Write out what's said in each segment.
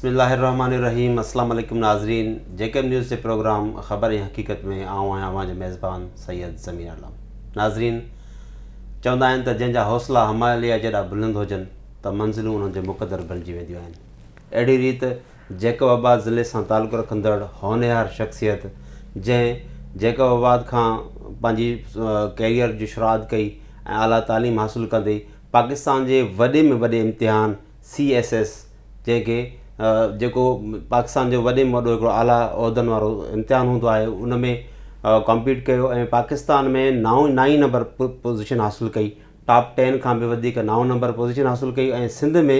بسم الله الرحمٰن الرحيم اسلام عليڪم ناظرين جيڪب نيوز جي پروگرام خبر ۽ حقيقت ۾ آئون آهيان اوهان جو ميزبان سيد ضمير عالم ناظرين چوندا آهن ته جنهن جا حوصلا هماليه جيڏا بلند هجن ته منزلون انهن جو مقدر بڻجي وينديون آهن اهڙي ريت جيڪب آباد ضلعي سان تعلق رکندڙ هونهار شخصيت جنهن جيڪب آباد کان پنهنجي ڪيريئر جي شروعات ڪئي ۽ اعليٰ تعليم حاصل ڪندي پاڪستان جي وڏي ۾ وڏي امتحان سي ايس ايس، جنهن کي جيڪو پاڪستان جو وڏي ۾ وڏو هڪڙو اعليٰ عهدن وارو امتحان هوندو آهي ان ۾ ڪمپيٽ ڪيو ۽ پاڪستان ۾ نائو نائين نمبر پوزيشن حاصل ڪئي ٽاپ ٽين کان به وڌيڪ نائون نمبر پوزيشن حاصل ڪئي ۽ سنڌ ۾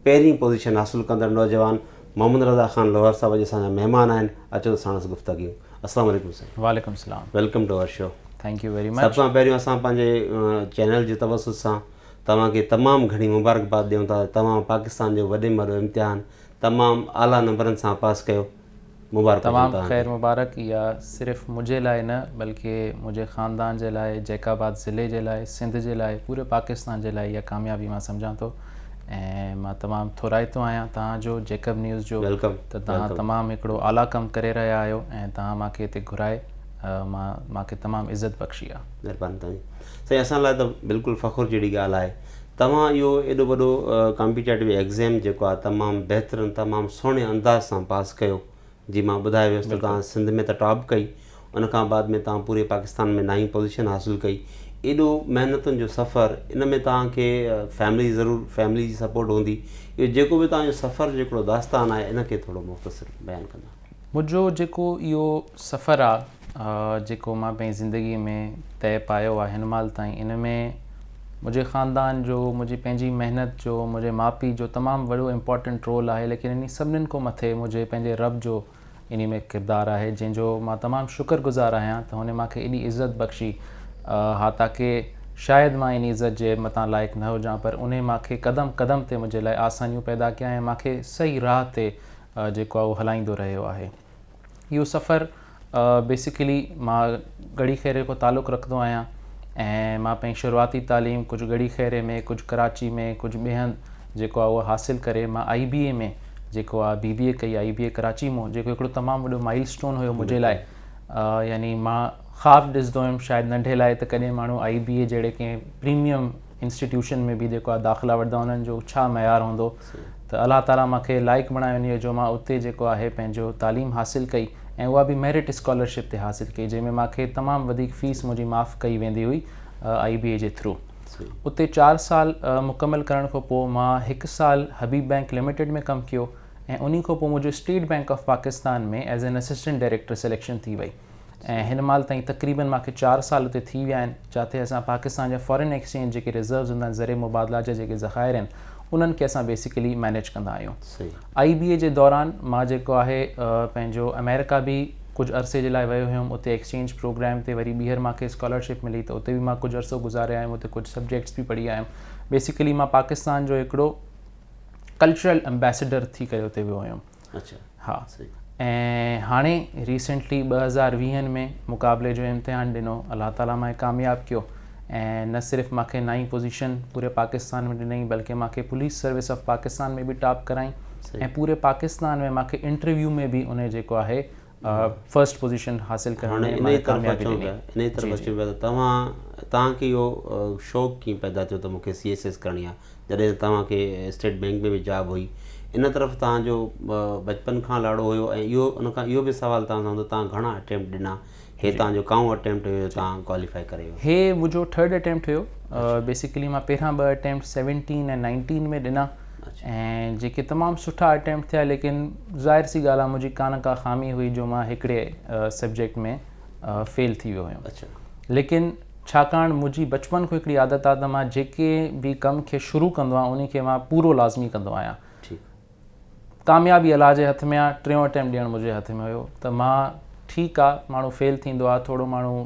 پهرين پوزيشن حاصل ڪندڙ نوجوان محمد رضا خان لوهر صاحب اڄ اسان جا مهمان آهن اچو ته ساڻس گفتگيون السلام عليڪم سائين وعليڪم السلام welcome to our show thank you very much سڀ کان پهريون اسان پنهنجي چينل جي توسط سان توهان کي تمام گهڻي مبارڪباد ڏيون ٿا ته توهان پاڪستان جو وڏي ۾ وڏو امتحان تمام اعليٰ نمبرن سان پاس ڪيو. مبارڪ هجن تمام توهان خير کي. مبارڪ اها صرف منهنجي لاء نه بلڪه منهنجي خاندان جي لاء، جيڪب آباد ضلعي جي لاء، سنڌ جي لاء، پوري پاڪستان جي لاء اها ڪاميابي مان سمجهان ٿو ۽ مان تمام ٿورائتو آهيان توهان جو جيڪب نيوز جو ويلڪم ته توهان ويلڪم. تمام هڪڙو اعليٰ ڪم ڪري رهيا آهيو ۽ توهان مان کي هتي گهرائي مان مان کي تمام عزت بخشي آهي. مهرباني توهان جي. سائين اسان لاء ته بلڪل فخر جهڙي ڳالهه آهي توهان اهو ايڏو وڏو ڪامپيٽيٽو ايگزيم جيڪو آهي تمام بهترن تمام سهڻي انداز سان پاس ڪيو جي مان ٻڌايو ويس ته توهان سنڌ ۾ ته ٽاپ ڪئي ان کان بعد ۾ توهان پوري پاڪستان ۾ نائين پوزيشن حاصل ڪئي ايڏو محنتن جو سفر ان ۾ توهان کي فيملي ضرور فيملي جي سپورٽ هوندي اهو جيڪو به توهان جو سفر جيڪڙو داستان آهي ان کي ٿورو مختصر بيان ڪندا منهنجو جيڪو اهو سفر آهي جيڪو مان پنهنجي زندگي ۾ طئي پايو آهي هن مهل تائين ان ۾ منهنجي خاندان جو منهنجي پنهنجي محنت جو منهنجي ماء پيء جو تمام وڏو امپورٽنٽ رول آهي ليڪن انهي سڀني کان مٿي منهنجي پنهنجي رب جو انهي ۾ ڪردار آهي جنهن جو مان تمام شڪر گذار آهيان ته هن مان کي ايڏي عزت بخشي ها تاڪه شايد مان انهي عزت جي متان لائق نه هجان پر انهي مان کي قدم قدم تي منهنجي لاء آسانيون پيدا ڪيا ۽ مان کي صحيح راهه تي جيڪو آهي اهو هلائيندو رهيو آهي. اهو سفر بيسڪلي مان ڳڙهي خيري کان تعلق رکندو آهيان ۽ مان پنهنجي شروعاتي تعليم ڪجهه ڳڙهي خيري ۾ ڪجهه ڪراچي ۾ ڪجهه ٻئي هنڌ جيڪو آهي اهو حاصل ڪري مان آئي بي اي ۾ جيڪو آهي بي بي اي ڪئي آئي بي اي ڪراچي مون جيڪو هڪڙو تمام وڏو مائل اسٽون هيو منهنجي لاء يعني مان خواب ڏسندو هيم شايد ننڍي لاء ته ڪڏهن ماڻهو آئي بي اي جهڙي ڪنهن پريميم انسٽيٽيوشن ۾ به جيڪو داخلا وٺندا انهن جو ڇا معيار هوندو ته الله تعاليٰ مان کي لائق بڻايو انهيء جو مان اتي جيڪو آهي پنهنجو تعليم حاصل ڪئي ۽ اها به ميرٽ اسڪالرشپ تي حاصل ڪئي جنهن ۾ مان کي تمام وڌيڪ فيس منهنجي معاف ڪئي ويندي هئي آئي بي اي جي ٿرو اتي چار سال مڪمل ڪرڻ کان پوء مان هڪ سال حبيب بئنڪ لميٽيڊ ۾ ڪم ڪيو ۽ انهي کان پوء منهنجو state bank of Pakistan ۾ as an assistant director selection ٿي وئي ۽ هن مهل تائين تقريبن مان کي چار سال اتي ٿي ويا آهن جاتي اسان پاڪستان جا فارين ايڪسچينج جيڪي رزروز هوندا آهن زري مبادلا جا جيڪي ذخائر آهن انهن کي اسان بيسيڪلي مينيج ڪندا آهيون آئي بي اي جي دوران مان جيڪو آهي پنهنجو اميرڪا به ڪجهه عرصي جي لاء ويو هيم اتي ايڪسچينج پروگرام تي وري ٻيهر مان کي اسڪالرشپ ملي ته اتي به مان ڪجهه عرصو گذاري آيم اتي ڪجهه سبجيڪٽس به پڙهي آيم بيسيڪلي مان پاڪستان جو هڪڙو ڪلچرل امبيسيڊر ٿي ڪري اتي ويو هيم اچا ها ۽ هاڻي ريسينٽلي ٻه هزار ويهن ۾ مقابلي جو امتحان ڏنو الله تعالي ماهي ڪامياب ڪيو ۽ نه صرف ماکي نائين پوزيشن پوري پاڪستان ۾ ڏنائين بلڪه ماکي پوليس سروس آف پاڪستان ۾ به ٽاپ ڪرائين ۽ پوري پاڪستان ۾ ماکي انٽرويو ۾ به انهي جيڪو آهي فرسٽ پوزيشن حاصل ڪرڻ ۾ هاڻي انهيء طرف اچون پيا انهيء طرف اچون پيا ته توهان توهان کي اهو شوق ڪيئن پيدا ٿيو ته مون کي سي ايس ايس ڪرڻي آهي جڏهن ته توهان کي اسٽيٽ بينڪ ۾ به جاب هئي ان طرف توهان جو بچپن کان لاڙو هيو ۽ اهو ان کان اهو به سوال توهان سان هوندو توهان گهڻا اٽيمپٽ ڏنا هي توهان جو ڪائون اٽيمپٽ هيو جو توهان ڪواليفائي ڪري ويو هي منهنجو ٿرڊ اٽيمپٽ هيو بيسيڪلي مان پهريان ٻه اٽيمپٽ سيونٽين ۽ نائنٽين ۾ ڏنا ۽ جيڪي تمام سٺا اٽيمپٽ ٿيا ليڪن ظاهر سي ڳالهه آهي منهنجي ڪا نه ڪا خامي هئي جو مان هڪڙي سبجيڪٽ ۾ فيل ٿي ويو هيم ليڪن ڇاڪاڻ منهنجي بچپن کان هڪڙي عادت آهي ته مان جيڪي به ڪم کي شروع ڪندو آهيان ان کي مان پورو لازمي ڪندو آهيان ڪاميابي الله جي هٿ ۾ آهي ٽيون اٽيمپٽ ڏيڻ منهنجي هٿ ۾ هيو ته مان ٺيڪ آهي ماڻهو فيل ٿيندو آهي ٿورو ماڻهو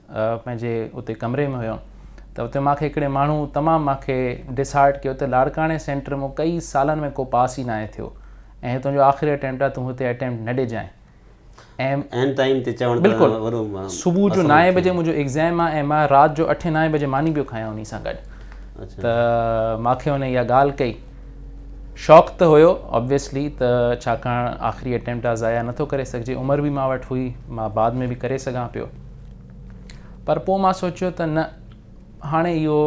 پنهنجي اتي ڪمري ۾ هيم ته اتي مانکي هڪڙي ماڻهو تمام مانکي ڊس هارٽ ڪيو ته لاڙڪاڻي سينٽر مون ڪئي سالن ۾ ڪو پاس ئي ناهي ٿيو ۽ هي تنهنجو آخري اٽيمپٽ آهي تون هتي اٽيمپٽ نه ڏجانء عين ٽائيم تي چوڻ ته وڏو صبح جو نائين بجي منهنجو ايگزام آهي ۽ مان رات جو اٺين نائين بجي ماني پيو کايان انهي سان گڏ ته مانکي هن اها ڳالهه ڪئي شاڪ ته هيو آبويسلي ته ڇاڪاڻ آخري اٽيمپٽ آهي ضايع نٿو ڪري سگهجي عمر به مان وٽ هئي مان بعد ۾ به ڪري سگهان پيو پر پوء مان سوچيو ته نه هاڻي اهو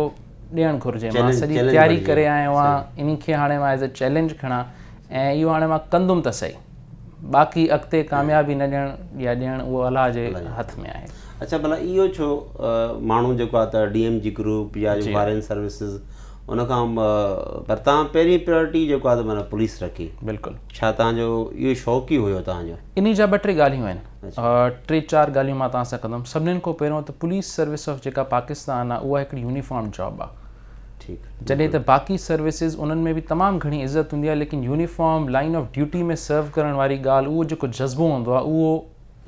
ڏيڻ گهرجي مان سڄي تياري ڪري آيو آهيان انهي کي هاڻي مان ايز اي چئلينج کڻان ۽ اهو هاڻي مان ڪندم ته سهي باقي اڳتي ڪاميابي نه ڏيڻ يا ڏيڻ اهو الله جي هٿ ۾ آهي اڇا ڀلا اهو ڇو ماڻهو جيڪو آهي ته ڊي ايم جي گروپ يا جو فارين سروسز ان کان پر تان پهرين پريورٽي جيڪو آهي ته معنيٰ پوليس رکي بلڪل ڇا تان جو اهو شوق ئي هيو تان جو انهي جا ٻه ٽي ڳالهيون آهن ٽي چار ڳالهيون مان توهان سان ڪندم سڀني کان پهريون ته پوليس سروس آف جيڪا پاڪستان آهي اها هڪڙي يونيفارم جاب آهي ٺيڪ جڏهن ته باقي سروسز انهن ۾ به تمام گهڻي عزت هوندي آهي ليڪن uniform line of duty ۾ serve ڪرڻ واري ڳالهه اهو جيڪو جذبو هوندو آهي اهو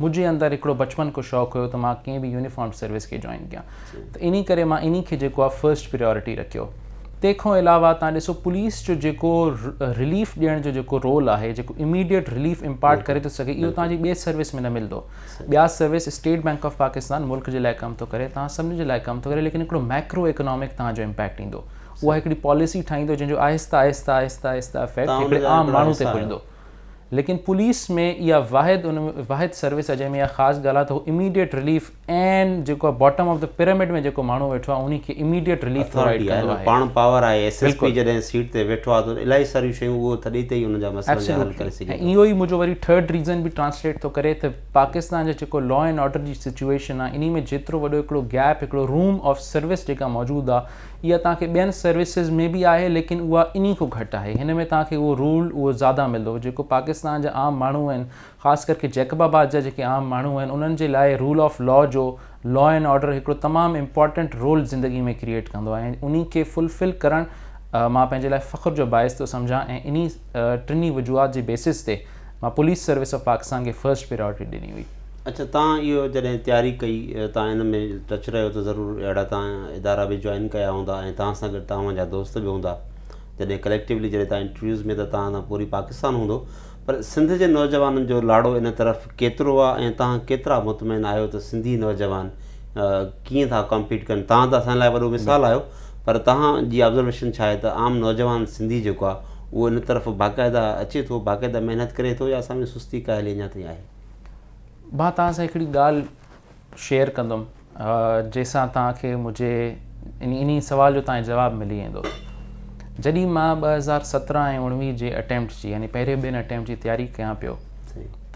منهنجي اندر هڪڙو بچپن کان شوق هيو ته مان ڪنهن به يونيفارم سروس کي جوائن ڪيان ته انهي ڪري مان انهي کي جيڪو آهي فرسٽ پريارٽي رکيو. تنهن کان علاوه تهان ڏسو پوليس جو جيڪو رليف ڏيڻ جو جيڪو رول آهي جيڪو اميڊيٽ رليف امپارٽ ڪري ٿو سگهي اهو تهان جي ٻي سروس ۾ نه ملندو. ٻيا service state bank of Pakistan ملڪ جي لاء ڪم ٿو ڪري تهان سڀني جي لاء ڪم ٿو ڪري ليڪن هڪڙو ميڪرو اڪنامڪ تهان جو امپيڪٽ ايندو اها هڪڙي پاليسي ٺاهيندو جنهن جو آهسته آهسته آهسته آهسته افيڪٽ هڪڙي عام ماڻهو تي پوندو ليڪن پوليس ۾ اها واحد واحد سروس آهي جنهن ۾ اها خاص ڳالهه آهي ته هو اميڊيٽ رليف ۽ جيڪو باٽم آف دي پيرامڊ ۾ جيڪو ماڻهو ويٺو آهي انهي کي اميڊيٽ رليف پرووائيڊ ڪندو آهي پاڻ پاور آهي ايس ايس پي جڏهن سيٽ تي ويٺو آهي ته الاهي ساريون شيون اهو ٿڏي تي ئي انهن جا مسئلا جا حل ڪري سگهي ٿو اهو ئي منهنجو وري ٿرڊ ريزن به ٽرانسليٽ ٿو ڪري ته پاڪستان جا جيڪو لا اينڊ آرڊر جي سچوئيشن آهي انهي ۾ جيترو وڏو هڪڙو گيپ هڪڙو روم آف سروس جيڪا موجود آهي اها توهان کي ٻين سروسز ۾ به آهي ليڪن اها انهي کان گهٽ آهي هن ۾ توهان کي اهو رول اهو زياده ملندو جيڪو پاڪستان جا عام ماڻهو آهن خاص ڪرڪي جيڪب آباد جا جيڪي عام ماڻهو آهن انهن جي لاء رول آف لا جو لا اينڊ آرڊر هڪڙو تمام امپارٽنٽ رول زندگي ۾ ڪريئيٽ ڪندو آهي ۽ انهي کي فلفل ڪرڻ مان پنهنجي لاء فخر جو باعث ٿو سمجهان ۽ انهي ٽنهي وجوهات جي بيسس تي مان پوليس سروس آف پاڪستان کي فرسٽ پريارٽي ڏني هئي. اڇا تان اهو جڏهن تياري ڪئي تان ان ۾ ٽچ رهيو ته ضرور اهڙا تان ادارا به جوائن ڪيا هوندا ۽ تان سان گڏ تان جا دوست به هوندا جڏهن ڪليڪٽيولي جڏهن تان انٽرويوز ۾ ته تان سان پوري پاڪستان هوندو پر سنڌ جي نوجوانن جو لاڙو ان طرف ڪيترو آ ۽ توهان ڪيترا مطمئن آهيو ته سنڌي نوجوان ڪيئن ٿا ڪمپيٽ ڪن توهان ته اسان لاء وڏو مثال آهيو پر توهان جي آبزرويشن ڇا آهي ته عام نوجوان سنڌي جيڪو آ اهو ان طرف باقاعده اچي ٿو باقاعده محنت ڪري ٿو يا اسان ۾ سستي ڪاهلي اڃا تائين آهي مان توهان سان هڪڙي ڳالهه شيئر ڪندم جنهن سان توهان کي منهنجي ان ان سوال جو توهان جواب ملي ويندو جڏهن مان ٻه هزار سترهن ۽ اڻويهه جي اٽيمپٽ جي يعني پهرين ٻين اٽيمپٽ جي تياري ڪيان پيو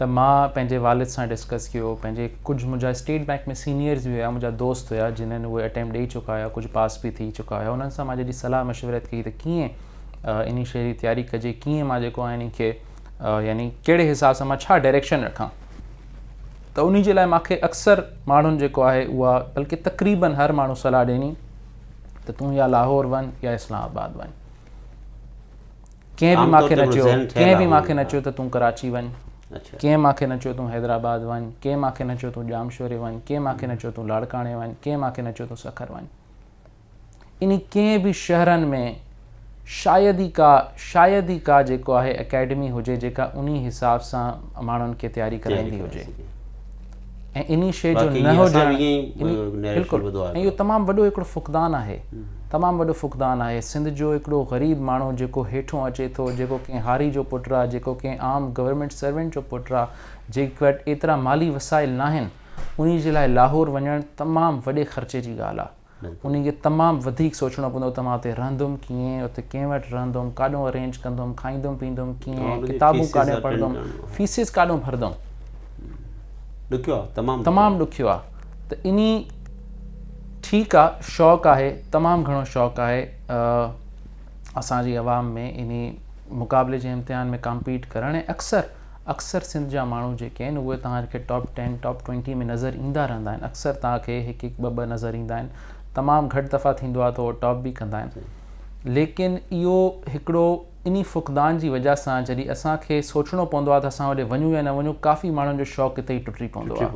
ته مان پنهنجي والد سان ڊسڪس ڪيو پنهنجي ڪجهه منهنجا اسٽيٽ بئنڪ ۾ سينيئرز به هيا منهنجا دوست هيا جنهن اهي اٽيمپٽ ڏيئي چڪا هيا ڪجهه پاس به ٿي چڪا هيا انهن سان مان جڏهن صلاح مشورت ڪئي ته ڪيئن ان شي جي تياري ڪجي ڪيئن مان جيڪو آهي ان کي يعني ڪهڙي حساب سان مان ڇا ڊائريڪشن رکان ته انهي جي لاء مان کي اڪثر ماڻهن جيڪو آهي اها بلڪه تقريبن هر ماڻهو صلاح ڏني ته تون يا لاهور وڃ يا اسلام آباد وڃ ڪنهن به مان کي نه چيو ڪنهن به مان کي نه چيو ته تون ڪراچي وڃ اچھا۔ ڪنهن مان کي نه چيو تون حيدرآباد وڃ ڪنهن مان کي نه چيو تون ڄامشوري وڃ ڪنهن مان کي نه چيو تون لاڙڪاڻي وڃ ڪنهن مان کي نه چيو تون سکر وڃ انهي ڪنهن به شهرن ۾ شايد ئي ڪا شايد ئي ڪا جيڪو آهي اڪيڊمي هجي جيڪا انهي حساب سان ماڻهن کي تياري ڪرائيندي هجي ۽ انهي شيء جو نه هجڻ بلڪل ۽ اهو تمام وڏو هڪڙو فقدان آهي تمام وڏو فقدان آهي سنڌ جو هڪڙو غريب ماڻهو جيڪو هيٺون اچي ٿو جيڪو ڪنهن هاري جو پٽ آهي جيڪو ڪنهن عام گورنمينٽ سروينٽ جو پٽ آهي جنهن وٽ ايترا مالي وسائل ناهن انهي جي لاء لاهور وڃڻ تمام وڏي خرچي جي ڳالهه آهي انهي کي تمام وڌيڪ سوچڻو پوندو ته مان اتي رهندم ڪيئن، اتي ڪنهن وٽ رهندم، ڪاڏهون ارينج ڪندم، کائيندم پيئندم ڪيئن، ڪتابون ڪاڏهن پڙهندم، فيسز ڪاڏهون ڀردم. ڏکيو آ، تمام ڏکيو. تمام ڏکيو آ ته انهي ٺيڪ آ شوق آهي، تمام گهڻو شوق آهي اسان جي عوام ۾ انهي مقابلي جي امتحان ۾ ڪامپيٽ ڪرڻ ۽ اڪثر اڪثر سنڌ جا ماڻهو جيڪي آهن اهي توهان کي ٽاپ ٽين ٽاپ ٽوئنٽي ۾ نظر ايندا رهندا آهن اڪثر توهان کي هڪ هڪ ٻه ٻه نظر ايندا آهن تمام گهٽ دفعا ٿيندو آهي ته اهي ٽاپ به ڪندا آهن ليڪن اهو هڪڙو انهي فقدان جي وجهه سان جڏهن اسان کي سوچڻو پوندو آهي ته اسان هوڏي وڃون يا نه وڃون ڪافي ماڻهن جو شوق اتي ئي ٽٽي پوندو آهي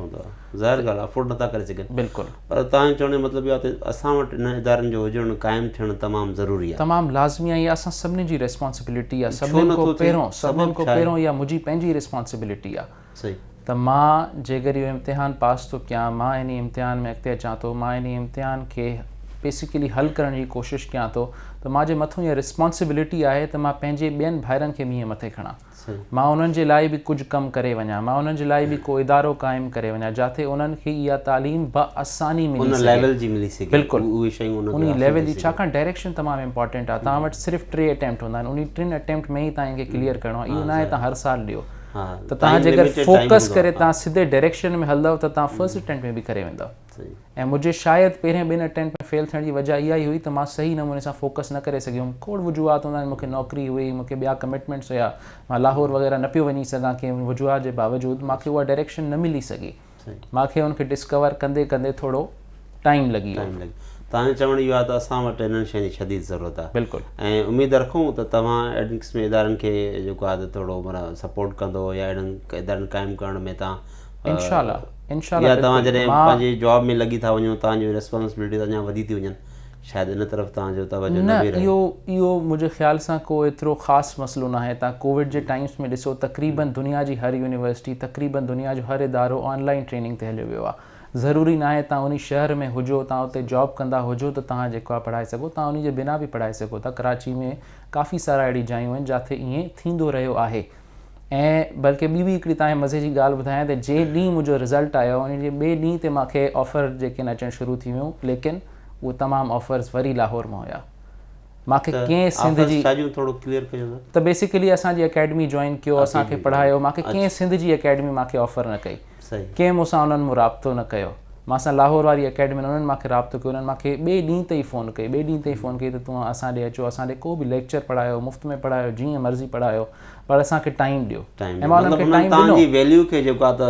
ظاهر ڳالهه آهي افورڊ نٿا ڪري سگهن بلڪل پر توهان جو چوڻ جو مطلب اهو آهي ته اسان وٽ انهن ادارن جو هجڻ قائم ٿيڻ تمام ضروري آهي. تمام لازمي آهي اها اسان سڀني جي ريسپانسبلٽي آهي سڀني کان پهريون سڀني کان پهريون اها منهنجي پنهنجي ريسپانسبلٽي آهي ته مان جيڪر اهو امتحان پاس ٿو ڪيان مان انهي امتحان ۾ اڳتي اچان ٿو مان انهي امتحان کي بيسيڪلي حل ڪرڻ جي ڪوشش ڪيان ٿو ته مان جي مٿون اها ريسپانسبلٽي آهي ته مان پنهنجي ٻين ڀائرن کي به ايئن مٿي کڻان. مان انهن جي لاء به ڪجهه ڪم ڪري وڃان، مان انهن جي لاء به ڪو ادارو قائم ڪري وڃان جاتي انهن کي اها تعليم بآساني ملي سگهي. ان ليول جي ملي سگهي. بلڪل. اهي شيون انهن کي حاصل ٿي سگهن. انهي ليول جي ڇاڪاڻ ڊائريڪشن تمام امپارٽنٽ آهي. توهان وٽ صرف ٽي اٽيمپٽ هوندا آهن. انهي ٽن اٽيمپٽ ۾ ئي توهان کي ڪليئر ڪرڻو آهي. اهو نه آهي توهان هر سال ڏيو. ته توهان جيڪر فوڪس ڪري توهان سڌي ڊائريڪشن ۾ هلندؤ ته توهان فرسٽ اٽيمپٽ ۾ به ڪري ويندؤ. ۽ منهنجي شايد پهرين ٻن اٽيمپٽ ۾ فيل ٿيڻ جي وجهه اها ئي هئي ته مان صحيح نموني سان فوڪس نه ڪري سگهيو هيم. کوڙ وجوهات هوندا آهن، مون کي نوڪري هئي، مون کي ٻيا ڪمٽمينٽس هيا، مان لاهور وغيره نه پيو وڃي سگهان ڪنهن وجوهات جي باوجود مان کي اها ڊائريڪشن نه ملي سگهي. مان کي ان کي ڊسڪور ڪندي ڪندي ٿورو ٽائيم لڳي ويو. توهان جو چوڻ اهو آهي ته اسان وٽ انهن شين جي شديد ضرورت آهي ۽ اميد رکون ته توهان اهڙن قسم جي ادارن کي جيڪو آهي ته ٿورو معنيٰ سپورٽ ڪندو يا اهڙن ادارن قائم ڪرڻ ۾ توهان انشاءالله انشاءالله يا توهان جڏهن پنهنجي جاب ۾ لڳي ٿا وڃو توهان جون ريسپانسبلٽيز اڃا وڌي ٿي وڃن شايد ان طرف توهان جو توجه نه به رهي. نه اهو اهو منهنجي خيال سان ڪو ايترو خاص مسئلو ناهي توهان ڪووڊ جي ٽائمس ۾ ڏسو تقريبن دنيا جي هر يونيورسٽي تقريبن دنيا جو هر ادارو آن لائين ٽريننگ تي هليو ويو آهي ضروري ناهي توهان انهي شهر ۾ هجو توهان اتي جاب ڪندا هجو ته توهان جيڪو آهي پڙهائي سگهو توهان انهي جي بنا به پڙهائي سگهو ٿا ڪراچي ۾ ڪافي سارا اهڙي جايون آهن جاٿي ائين ٿيندو رهيو آهي ۽ بلڪه ٻي به هڪڙي تانکي مزي جي ڳالهه ٻڌايان ته جنهن ڏينهن منهنجو رزلٽ آيو ان جي ٻئي ڏينهن تي مانکي آفر جيڪي آهن اچڻ شروع ٿي ويون ليڪن اهي تمام آفرز وري لاهور مان هيا مانکي ڪنهن سنڌ جي ته بيسيڪلي اسان جي اڪيڊمي جوائن ڪيو اسان کي پڙهايو مانکي ڪنهن سنڌ جي اڪيڊمي مانکي آفر نه ڪئي ڪنهن مون سان انهن مون رابطو نه ڪيو. مان سان لاهور واري اڪيڊمين انهن مان کي رابطو ڪيو انهن مان کي ٻئي ڏينهن تي ئي فون ڪئي ٻئي ڏينهن تي ئي فون ڪئي ته توهان اسان ڏي اچو اسان ڏي ڪو به ليڪچر پڙهايو مفت ۾ پڙهايو جيئن مرضي پڙهايو پر اسان کي ٽائيم ڏيو ۽ مان انهن کي ٽائيم ڏنو. مطلب انهن تهان جي ويليو کي جيڪو آهي ته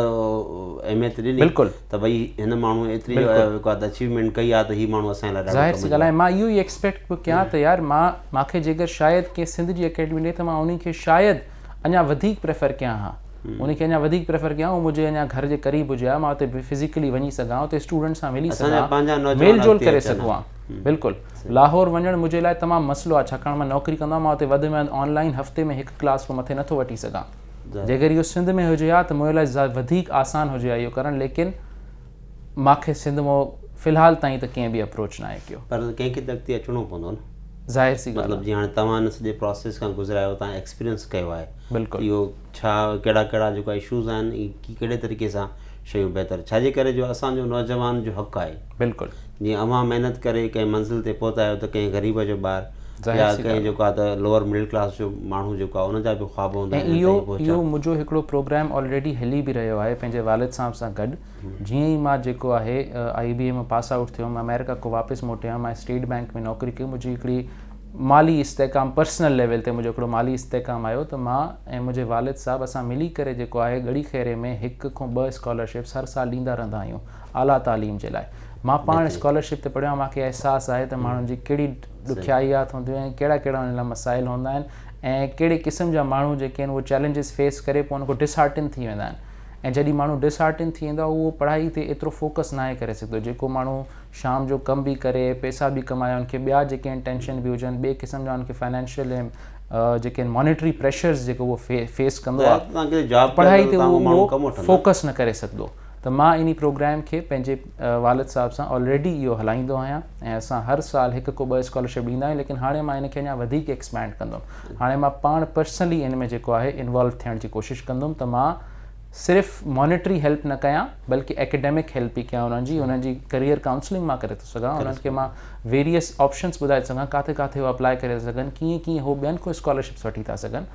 اهميت ڏني بلڪل ته ڀئي هن ماڻهو ايتري جيڪو آهي ته اچيومينٽ ڪئي آهي ته هي ماڻهو اسان لاء ڏاڍو ڪم جو آهي. ظاهر سي ڳالهه آهي مان اهو ئي ايڪسپيڪٽ پيو ڪيان ته يار مان کي جيڪر شايد ڪنهن سنڌ جي اڪيڊمين ڏي ته مان انهي کي شايد اڃا وڌيڪ پريفر ڪيان ها ان کي اڃا وڌيڪ پريفر ڪيان هو منهنجي اڃا گهر جي قريب هجي ها مان اتي فزيڪلي وڃي سگهان اتي اسٽوڊنٽس سان ملي سگهان ميل جول ڪري سگهو ها بلڪل لاهور وڃڻ منهنجي لاء تمام مسئلو آهي ڇاڪاڻ مان نوڪري ڪندو آهيان مان اتي وڌ ۾ وڌ آن لائين هفتي ۾ هڪ ڪلاس کان مٿي نٿو وٺي سگهان جيڪر اهو سنڌ ۾ هجي ها ته منهنجي لاء وڌيڪ آسان هجي ها اهو ڪرڻ ليڪن ماکي سنڌ مون في الحال تائين ته ڪنهن به اپروچ ناهي ڪيو. پر ڪنهن کي ته اڳتي اچڻو پوندو نه. ظاهر سي ڳالهه آهي. مطلب جي هاڻي توهان ان سڄي پراسيس کان گذريا آهيو توهان ايڪسپيرينس ڪيو آهي. بلڪل. اهو ڇا ڪهڙا ڪهڙا جيڪو اشوز آهن ڪي ڪهڙي طريقي سان شيون بهتر ڇا جي ڪري جو اسان جو نوجوان جو حق آهي. بلڪل. جيئن اوهان محنت ڪري ڪنهن منزل تي پهتا آهيو ته ڪنهن غريب جو ٻار يا ڪنهن جيڪو آهي ته لوور مڊل ڪلاس جو ماڻهو جيڪو آهي ان جا به خواب هوندا آهن ۽ اهو اهو منهنجو هڪڙو پروگرام آلريڊي هلي به رهيو آهي پنهنجي والد صاحب سان گڏ جيئن ئي مان جيڪو آهي آئي بي اي مان پاس آئوٽ ٿيو مان آمريڪا کان واپس موٽي آيو مان اسٽيٽ بينڪ ۾ نوڪري ڪئي منهنجي هڪڙي مالي استحڪام پرسنل ليول تي منهنجو هڪڙو مالي استحڪام آيو ته مان ۽ منهنجي والد صاحب اسان ملي ڪري جيڪو آهي ڳڙي خيري ۾ هڪ کان ٻه اسڪالرشپس هر سال ڏيندا رهندا آهيون اعليٰ تعليم جي لاء مان پاڻ اسڪالرشپ تي پڙهيو آهيان مان کي احساس آهي ته ماڻهن جي ڪهڙي ڏکيائيات هونديون آهن ڪهڙا ڪهڙا ان لاء مسائل هوندا آهن ۽ ڪهڙي قسم جا ماڻهو جيڪي آهن اهي چئلينجز فيس ڪري پوء ان کان ڊسهارٽن ٿي ويندا آهن ۽ جڏهن ماڻهو ڊسهارٽن ٿي ويندو آهي اهو پڙهائي تي ايترو فوڪس ناهي ڪري سگهندو جيڪو ماڻهو شام جو ڪم به ڪري پيسا به ڪمايا ان کي ٻيا جيڪي آهن ٽينشن به هجن ٻئي قسم جا ان کي فائنينشل ۽ جيڪي آهن مانيٽري پريشرز جيڪو اهو فيس ڪندو آهي پڙهائي تي اهو فوڪس نه ڪري سگهندو ته مان انهي پروگرام کي پنهنجي والد صاحب سان آلريڊي اهو هلائيندو آهيان ۽ اسان هر سال هڪ ڪو ٻه اسڪالرشپ ڏيندا آهيون ليڪن هاڻي مان ان کي اڃا وڌيڪ ايڪسپينڊ ڪندم هاڻي مان پاڻ پرسنلي ان ۾ جيڪو آهي انوالو ٿيڻ جي ڪوشش ڪندم ته مان صرف مانيٽري هيلپ نه ڪيان بلڪه ايڪيڊمڪ هيلپ به ڪيان انهن جي انهن جي ڪريئر ڪائونسلنگ مان ڪري ٿو سگهان انهن کي مان ويريئس آپشنس ٻڌائي ٿو سگهان ڪاٿي ڪاٿي هو اپلائي ڪري ٿا سگهن ڪيئن ڪيئن هو ٻين کان اسڪالرشپس وٺي ٿا سگهن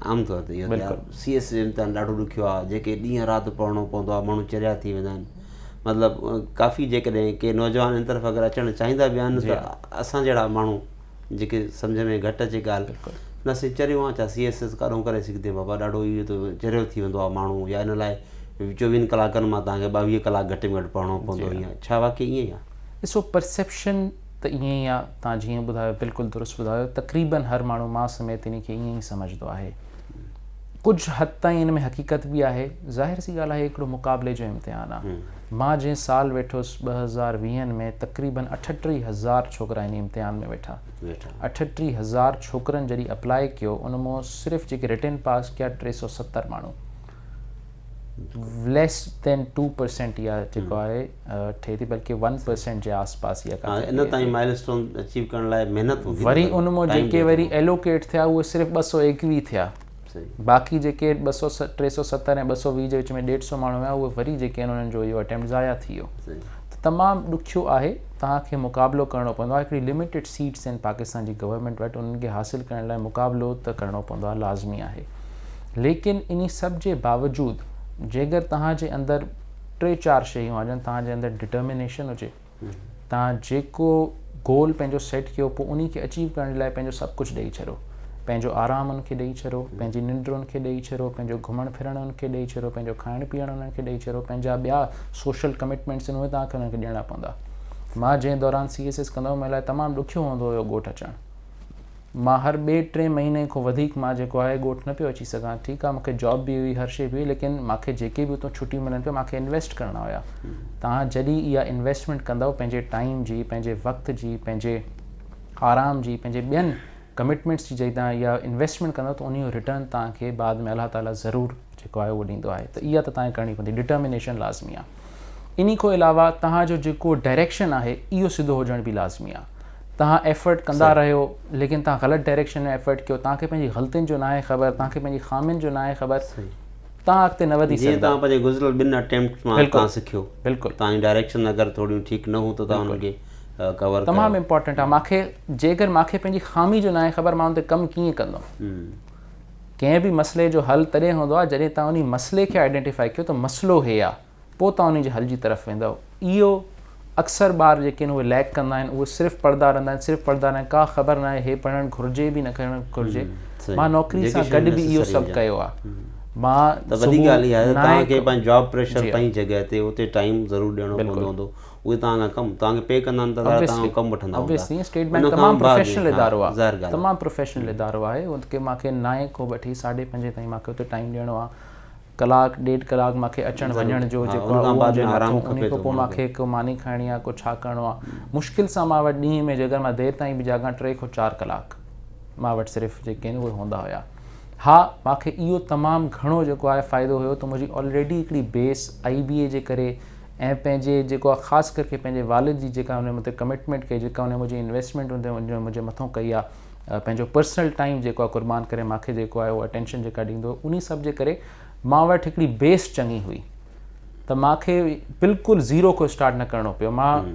عام طور تي اهو ته سي ايس جو امتحان ڏاڍو ڏکيو آهي جيڪي ڏينهن رات پڙهڻو پوندو آهي ماڻهو چريا ٿي ويندا آهن مطلب ڪافي جيڪڏهن ڪي نوجوان ان طرف اگر اچڻ چاهيندا به آهن ته اسان جهڙا ماڻهو جيڪي سمجهه ۾ گهٽ اچي ڳالهه نه سي چريو آهي ڇا سي ايس ايس ڪاڏهون ڪري سگهندي بابا ڏاڍو اهو ته چريو ٿي ويندو آهي ماڻهو يا ان لاء چوويهن ڪلاڪن مان تهانکي ٻاويهه ڪلاڪ گهٽ ۾ گهٽ پڙهڻو پوندو ائين ڇا واقعي ائين آهي ڏسو پرسيپشن ته ائين ئي آ توهان جيئن ٻڌايو بلڪل درست ٻڌايو تقريبن هر ماڻهو مان سميت انهي کي ائين ئي سمجهدو آهي ڪجهه حد تائين ان ۾ حقيقت به آهي ظاهر سي ڳالهه آهي هڪڙو مقابلي جو امتحان آ مان جنهن سال ويٺس ٻه هزار ويهن ۾ تقريبن اٺٽيهه هزار ڇوڪرا انهي امتحان ۾ ويٺا اٺٽيهه هزار ڇوڪرن جڏهن اپلائي ڪيو ان مون صرف جيڪي رٽن پاس ڪيا ٽي سؤ ستر ماڻهو ليس دين ٽو پرسينٽ يا جيڪو آهي ٺهي ٿي بلڪه ون پرسينٽ جي آس پاس يا ڪٿي ٺهي ٿي ان تائين مائل اسٽون اچيو ڪرڻ لاء محنت هوندي وري ان مون جيڪي وري ايلوڪيٽ ٿيا اهي صرف ٻه سؤ ايڪويهه ٿيا باقي جيڪي ٻه سؤ ٽي سؤ ستر ۽ ٻه سؤ ويهه جي وچ ۾ ڏيڍ سؤ ماڻهو هيا اهي وري جيڪي آهن انهن جو اهو اٽيمپٽ ضايع ٿي ويو ته تمام ڏکيو آهي توهان کي مقابلو ڪرڻو پوندو آهي هڪڙي لميٽيڊ سيٽس آهن پاڪستان جي گورنمينٽ وٽ انهن کي حاصل ڪرڻ لاء مقابلو ته ڪرڻو پوندو آهي لازمي آهي ليڪن انهي سڀ جي باوجود جيڪر توهان جي اندر ٽي چار شيون آجن توهان جي اندر ڊٽرمينيشن هجي توهان جيڪو گول پنهنجو سيٽ ڪيو پوء انهي کي اچيو ڪرڻ لاء پنهنجو سڀ ڪجهه ڏئي ڇڏو پنهنجو آرام ان کي ڏئي ڇڏو پنهنجي ننڊ ان کي ڏئي ڇڏو پنهنجو گهمڻ ڦرڻ ان کي ڏئي ڇڏو پنهنجو کائڻ پيئڻ انهن کي ڏئي ڇڏو پنهنجا ٻيا سوشل ڪمٽمينٽس ان توهان کي انهن کي ڏيڻا پوندا مان جنهن دوران سي ايس ايس ڪندو هو مون لاء تمام ڏکيو هوندو هيو ڳوٺ اچڻ مان هر ٻئي ٽئين مهيني کان وڌيڪ مان جيڪو آهي ڳوٺ نه پيو اچي سگهان ٺيڪ آهي مونکي جاب به هئي هر شئي به هئي ليڪن مونکي جيڪي به اتان ڇٽيون ملن پيون مونکي انويسٽ ڪرڻا هيا توهان جڏهن اها انويسٽمينٽ ڪندؤ پنهنجي ٽائيم جي پنهنجي وقت جي پنهنجي آرام جي پنهنجي ٻين ڪمٽمينٽس جي جڏهن توهان اها انويسٽمينٽ ڪندؤ ته انهي جو رٽرن توهان کي بعد ۾ الله تعاليٰ ضرور جيڪو آهي اهو ڏيندو آهي ته اها ته توهان کي ڪرڻي پوندي ڊٽرمينيشن لازمي آهي. انهي کان علاوه توهان جو جيڪو ڊائريڪشن آهي اهو سڌو هجڻ به لازمي آهي توهان ايفرٽ ڪندا رهيو ليڪن توهان غلط ڊائريڪشن ۾ ايفرٽ ڪيو توهان کي پنهنجي غلطين جو ناهي خبر توهان کي پنهنجي خامين جو ناهي خبر توهان اڳتي نه وڌي سگهندا جيئن توهان پنهنجي گذريل ٻن اٽيمپٽس مان توهان سکيو بلڪل توهان جون ڊائريڪشن اگر ٿوريون ٺيڪ نه هون ته توهان انهن کي ڪور ڪيو تمام امپورٽنٽ آهي مون کي جيڪر مون کي پنهنجي خامي جو ناهي خبر مان ان تي ڪم ڪيئن ڪندم ڪنهن به مسئلي جو حل تڏهن هوندو آهي جڏهن توهان انهي مسئلي کي آئيڊينٽيفائي ڪيو ته مسئلو هي آهي پوء توهان انهي جي حل جي طرف ويندؤ اهو اڪثر ٻار جيڪي آهن اهي ليڪ ڪندا آهن اهي صرف پڙهندا رهندا آهن صرف پڙهندا رهن ڪا خبر ناهي هي پڙهڻ گهرجي به نه پڙهڻ گهرجي مان نوڪري سان گڏ به اهو سڀ ڪيو آهي مان ته وڏي ڳالهه اها آهي ته توهان کي پنهنجي جاب پريشر پنهنجي جڳهه تي اتي ٽائيم ضرور ڏيڻو پوندو هوندو اهي توهان کان ڪم توهان کي پي ڪندا آهن ته ظاهر آهي توهان کان ڪم وٺندا هوندا Obviously اسٽيٽ بينڪ تمام پروفيشنل ادارو آهي ظاهر ڳالهه آهي تمام پروفيشنل ادارو آهي ان کي مان کي نائين کان وٺي ساڍي پنجين تائين مان کي اتي ٽائيم ڏيڻو آهي ڪلاڪ ڏيڍ ڪلاڪ مان کي اچڻ وڃڻ جو ضروري آهي ها ان کان بعد ۾ آرام کپي ٿو ان کان پوء مان کي هڪ ماني کائڻي آهي ڪو ڇا ڪرڻو آهي مشڪل سان مان وٽ ڏينهن ۾ جيڪڏهن مان دير تائين به جاڳان ٽي کان چار ڪلاڪ مان وٽ صرف جيڪي آهن اهي هوندا هيا ها مان کي اهو تمام گهڻو جيڪو آهي فائدو هيو ته منهنجي آلريڊي هڪڙي بيس آئي بي اي جي ڪري ۽ پنهنجي جيڪو آ خاص ڪر ڪي پنهنجي والد جي جيڪا هن مٿي ڪمٽمينٽ ڪئي جيڪا هن منهنجي انويسٽمينٽ هن منهنجي مٿو ڪئي آ پنهنجو پرسنل ٽائيم جيڪو آ قربان ڪري ماکي جيڪو آ اهو اٽينشن جيڪا ڏيندو هو انهي سڀ جي ڪري مان وٽ هڪڙي بيس چڱي هئي ته ماکي بلڪل زيرو کان اسٽارٽ نه ڪرڻو پيو مان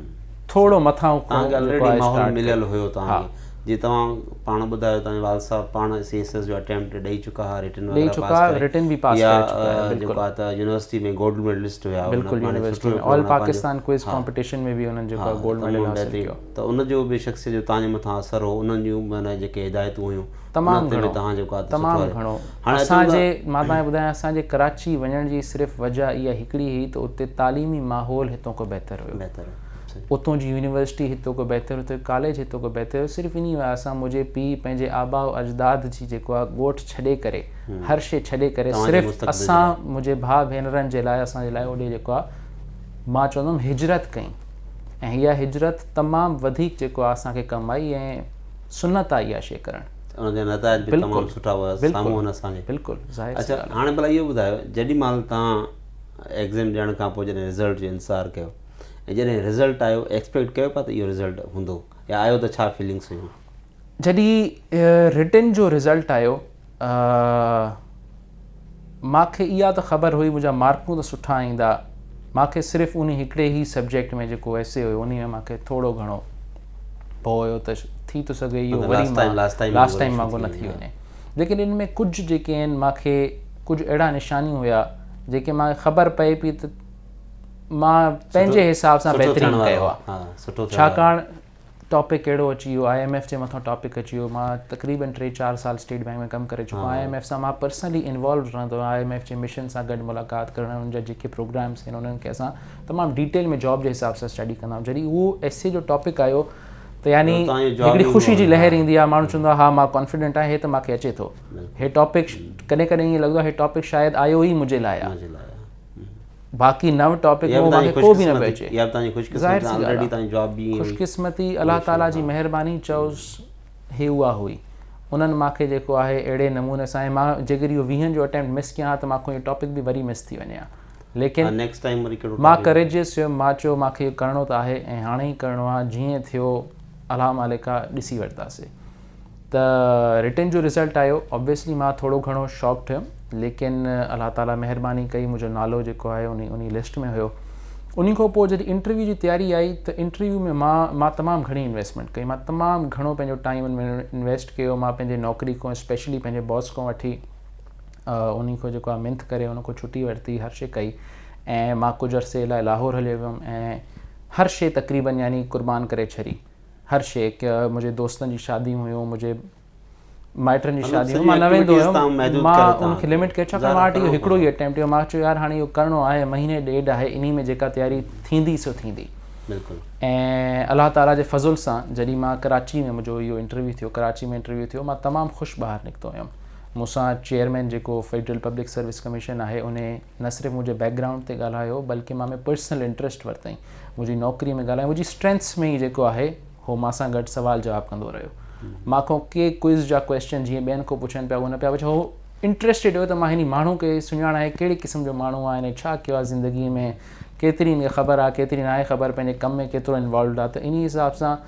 ٿورو مٿان کان مليل هيو توهان کي جي توهان پاڻ ٻڌايو توهان جي والد صاحب پاڻ سي ايس ايس جو اٽيمپٽ ڏئي چڪا ھئا رٽن وغيره پاس ڪري ڏئي چڪا رٽن به پاس ڪري چڪا ھئا بلڪل جيڪو آ ته يونيورسٽي ۾ گولڊ ميڊلسٽ ھيا بلڪل university ۾ all Pakistan quiz competition ۾ به انهن جيڪو آ گولڊ ميڊل حاصل ڪيو ته ان جو به شخصيت جو توهان جي مٿان اثر ھو انهن جون معنيٰ جيڪي ھدايتون ھيون تمام گھڻو تمام گھڻو اسان جي مان توهان کي ٻڌايان اسان جي ڪراچي وڃڻ جي صرف وجھ اھا ھڪڙي ھئي ته اتي تعليمي ماحول ھتو ڪو بهتر ھيو اتون جي يونيورسٽي هتو کان بهتر هتو ڪاليج هتو کان بهتر هيو صرف انهي وجه سان منهنجي پيء پنهنجي آباء و اجداد جي جيڪو آ ڳوٺ ڇڏي ڪري هر شي ڇڏي ڪري صرف اسان منهنجي ڀاء ڀينرن جي لاء اسان جي لاء هوڏي جيڪو آ مان چوندم هجرت ڪئي ۽ اها هجرت تمام وڌيڪ جيڪو آ اسان کي ڪم آئي ۽ سنت آ اها شي ڪرڻ ان جا نتائج به تمام سٺا هئا سامهون هن اسان جي بلڪل ظاهر اڇا هاڻي ڀلا اهو ٻڌايو جيڏي مهل تان ايگزيم ڏيڻ کان پوء جڏهن رزلٽ جو انتظار ڪيو ۽ جڏهن رزلٽ آيو ايڪسپيڪٽ ڪيو پيا ته اهو رزلٽ هوندو يا آيو ته ڇا فيلنگس هيون؟ جڏهن رٽن جو رزلٽ آيو مان کي اها ته خبر هئي منهنجا مارڪون ته سٺا ايندا مان کي صرف انهي هڪڙي ئي سبجيڪٽ ۾ جيڪو ايسي هيو انهي ۾ مان کي ٿورو گهڻو ڀؤ هيو ته ٿي ٿو سگهي اهو وري مان لاست ٽائيم وانگر نه ٿي وڃي ليڪن ان ۾ ڪجهه جيڪي آهن مان کي ڪجهه اهڙا نشاني هيا جيڪي مان کي خبر پئي پئي ته مان پنهنجي حساب سان بهترين ڪيو آهي ڇاڪاڻ ٽاپڪ اهڙو اچي ويو آء ايم ايف جي مٿان ٽاپڪ اچي ويو مان تقريبن ٽي چار سال اسٽيٽ بئنڪ ۾ ڪم ڪري چڪو آهيان آء ايم ايف سان مان پرسنلي انوالوڊ رهندو آهيان آء ايم ايف جي مشن سان گڏ ملاقات ڪرڻ انهن جا جيڪي پروگرامس آهن انهن کي اسان تمام ڊيٽيل ۾ جاب جي حساب سان اسٽڊي ڪندا آهيون جڏهن اهو ايس اي جو ٽاپڪ آيو ته يعني هڪڙي خوشي جي لهر ايندي آهي ماڻهو چوندو آهي ها مان ڪانفيڊنٽ آهيان هي ته مونکي اچي ٿو هي ٽاپڪ ڪڏهن ڪڏهن ائين لڳندو آهي هي ٽاپڪ شايد آيو ئي منهنجي لاء آهي باقي نو ٽاپڪ مون کي ڪو به نه پيو اچي يا تنهنجي خوش قسمتي آلريڊي تنهنجو جواب به ايئن خوش قسمتي الله تعالي جي مهرباني چئوس هي اها هئي انهن مان کي جيڪو آهي اهڙي نموني سان مان جيڪر اهو ويهن جو اٽيمپٽ مس ڪيان ها ته مان کون ٽاپڪ به وري مس ٿي وڃي ها ليڪن نيڪسٽ ٽائيم وري ڪهڙو مان ڪريجيس هيم مان چيو مان کي ڪرڻو ته آهي ۽ هاڻي ئي ڪرڻو آهي جيئن ٿيو الحمالڪا ڏسي ورتاسي ته رٽن جو رزلٽ آيو اوبيسلي مان ٿورو گهڻو شاڪ ٿيم ليڪن الله تعالي مهرباني ڪئي منهنجو نالو جيڪو آهي انهي انهي لسٽ ۾ هيو انهي کان پوء جڏهن انٽرويو جي تياري آئي ته انٽرويو ۾ مان مان تمام گهڻي انويسٽمينٽ ڪئي مان تمام گهڻو پنهنجو ٽائيم ان ۾ انويسٽ ڪيو مان پنهنجي نوڪري کان اسپيشلي پنهنجي باس کان وٺي انهي کان جيڪو آهي منٿ ڪري ان کان ڇٽي ورتي هر شي ڪئي ۽ مان ڪجهه عرصي لاء لاهور هليو ويم ۽ هر شي تقريبن يعني قربان ڪري ڇڏي هر شيء ڪيا منهنجي دوستن جي شاديون هيون منهنجي مائٽن جي شاديون هيون مان نه ويندو هيم مان ان کي لمٽ ڪيو ڇاڪاڻ مان وٽ هڪڙو ئي اٽيمپٽ هيو مان چيو يار هاڻي اهو ڪرڻو آهي مهيني ڏيڍ آهي انهي ۾ جيڪا تياري ٿيندي سو ٿيندي بلڪل ۽ الله تعالي جي فضل سان جڏهن مان ڪراچي ۾ منهنجو اهو انٽرويو ٿيو ڪراچي ۾ انٽرويو ٿيو مان تمام خوش ٻاهر نڪتو هيم مون سان چيئرمين جيڪو فيڊرل پبلڪ سروس ڪميشن آهي انهي نه صرف منهنجي بيڪ گرائونڊ تي ڳالهايو بلڪه مان ۾ پرسنل انٽرسٽ ورتائين منهنجي نوڪري ۾ ڳالهايو منهنجي اسٽرينٿس ۾ ئي جيڪو آهي هو مان سان گڏ سوال جواب ڪندو رهيو مان کان ڪي ڪوئز جا ڪويشچن جيئن ٻين کان پڇن پيا هو نه پيا پڇو هو انٽرسٽيڊ هو ته مان هن ماڻهو کي سڃاڻائي ڪهڙي قسم جو ماڻهو آهي هن ڇا ڪيو آهي زندگي ۾ ڪيتري هن کي خبر آهي ڪيتري ناهي خبر پنهنجي ڪم ۾ ڪيترو انوالوڊ آهي ته انهي حساب سان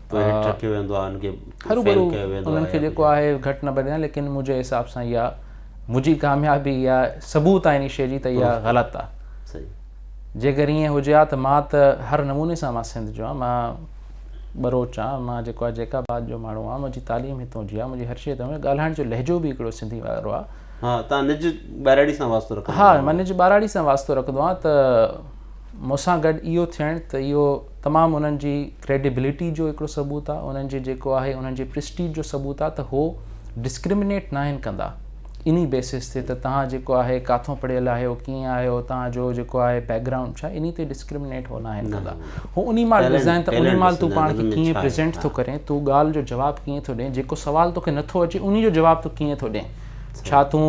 پوء هيٺ رکيو ويندو آهي انهن کي فيل ڪيو ويندو آهي انهن کي جيڪو آهي گهٽ نه ڀريان ليڪن منهنجي حساب سان اها منهنجي ڪاميابي اها ثبوت آهي انهي شيء جي ته اها غلط آهي صحيح جيڪر ائين هجي ها ته مان ته هر نموني سان مان سنڌ جو آهيان مان ٻروچ آهيان مان جيڪو آهي جيڪا آباد جو ماڻهو آهيان منهنجي تعليم هتون جي آهي منهنجي هر شيء هتون ڳالهائڻ جو لهجو به هڪڙو سنڌي وارو آهي ها تان نج ٻاراڙي سان واسطو رکندو ها مان نج ٻاراڙي سان واسطو رکندو آهيان ته مون سان گڏ اهو ٿيڻ ته اهو تمام انهن جي ڪريڊيبلٽي جو هڪڙو ثبوت آهي، انهن جي جيڪو آهي انهن جي پريسٽيج جو ثبوت آهي ته هو ڊسڪرمنيٽ ناهن ڪندا انهي بيسس تي ته توهان جيڪو آهي ڪاٿون پڙهيل آهيو، ڪيئن آهيو، توهان جو جيڪو آهي بيڪ گرائونڊ ڇا انهي تي ڊسڪرمنيٽ هو ناهن ڪندا. هو انهي مال ڏسندائين ته انهي مال تون پاڻ کي ڪيئن پريزينٽ ٿو ڪرين، تون ڳالهه جو جواب ڪيئن ٿو ڏين، جيڪو سوال توکي نٿو اچي انهي جو جواب تون ڪيئن ٿو ڏين، ڇا تون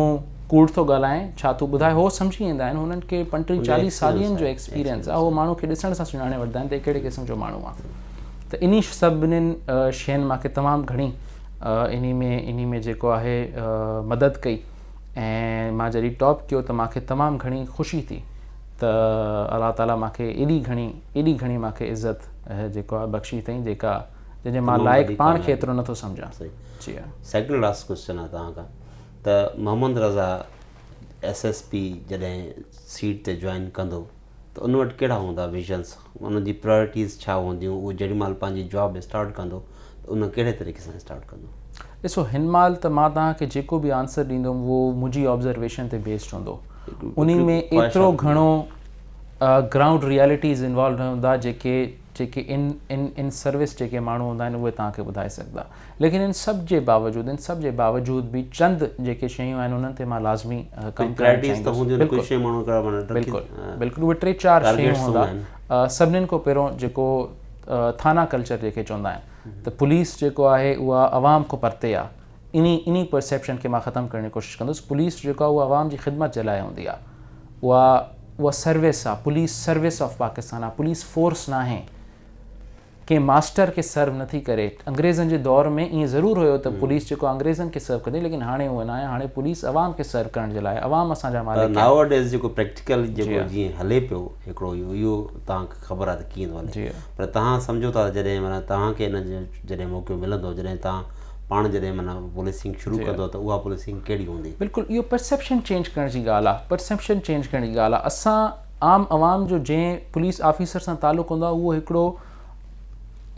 ڪوڙ ٿو ڳالهائين ڇا ٿو ٻڌائي هو سمجهي ويندا آهن هنن کي پنٽيهن چاليهه سالين جو ايڪسپيرينس آهي هو ماڻهو کي ڏسڻ سان سڃاڻي وٺندا آهن ته هي ڪهڙي قسم جو ماڻهو آهي ته انهي سڀنين شين مان کي تمام گهڻي انهي ۾ انهي ۾ جيڪو آهي مدد ڪئي ۽ مان جڏهن ٽاپ ڪيو ته مانکي تمام گهڻي خوشي ٿي ته الله تعالي مانکي ايڏي گهڻي ايڏي گهڻي مانکي عزت جيڪو آهي بخشي اٿئين جيڪا جنهن جي مان لائق پاڻ کي ايترو نٿو سمجهان جي سيڪنڊ لاسٽ ڪويشچن آهي توهان کان ته Muhammad Raza S S P جڏهن سيٽ تي جوائن ڪندو ته ان وٽ ڪهڙا هوندا ويزنس ان جي پرايرٽيز ڇا هونديون اهو جهڙي مهل پنهنجي جاب اسٽارٽ ڪندو ته ان ڪهڙي طريقي سان اسٽارٽ ڪندو؟ ڏسو هن مهل ته مان توهان کي جيڪو به آنسر ڏيندم اهو منهنجي آبزرويشن تي بيسڊ هوندو ان ۾ ايترو گهڻو گرائونڊ ريالٽيز انوالو نه هوندا جيڪي جيڪي ان ان ان سروس جيڪي ماڻهو هوندا آهن اهي توهان کي ٻڌائي سگهندا ليڪن ان سڀ جي باوجود ان سڀ جي باوجود به چند جيڪي شيون آهن انهن تي مان لازمي ڪم ڪرڻ چاهيندس بلڪل بلڪل اهي ٽي چار شيون هوندا سڀنن کان پهريون جيڪو ٿانا ڪلچر جيڪي چوندا آهن ته پوليس جيڪو آهي اها عوام کان پرتي آهي انهي انهي پرسيپشن کي مان ختم ڪرڻ جي ڪوشش ڪندس پوليس جيڪو آهي اها عوام جي خدمت جي لاء هوندي آهي اها اها سروس آهي پوليس سروس آف پاڪستان آهي پوليس فورس ناهي ڪنهن ماسٽر کي سرو نٿي ڪري. انگريزن جي دور ۾ ائين ضرور هيو ته پوليس جيڪو آهي انگريزن کي سرو ڪندي ليڪن هاڻي هوء ناهي هاڻي پوليس عوام کي سرو ڪرڻ جي لاء آهي عوام اسان جا مالڪ آهن. ناو ڊيز جيڪو پريڪٽيڪل جيڪو جيئن هلي پيو هڪڙو اهو اهو توهان کي خبر آهي ته ڪيئن ٿو هلي پر توهان سمجهو ٿا ته جڏهن معنيٰ توهان کي ان جو جڏهن موقعو ملندو جڏهن توهان پاڻ جڏهن معنيٰ پوليسنگ شروع ڪندو ته اها پوليسنگ ڪهڙي هوندي. بلڪل اهو پرسيپشن چينج ڪرڻ جي ڳالهه آهي پرسيپشن چينج ڪرڻ جي ڳالهه آهي اسان عام عوام جو جنهن پوليس آفيسر سان تعلق هوندو آهي اهو هڪڙو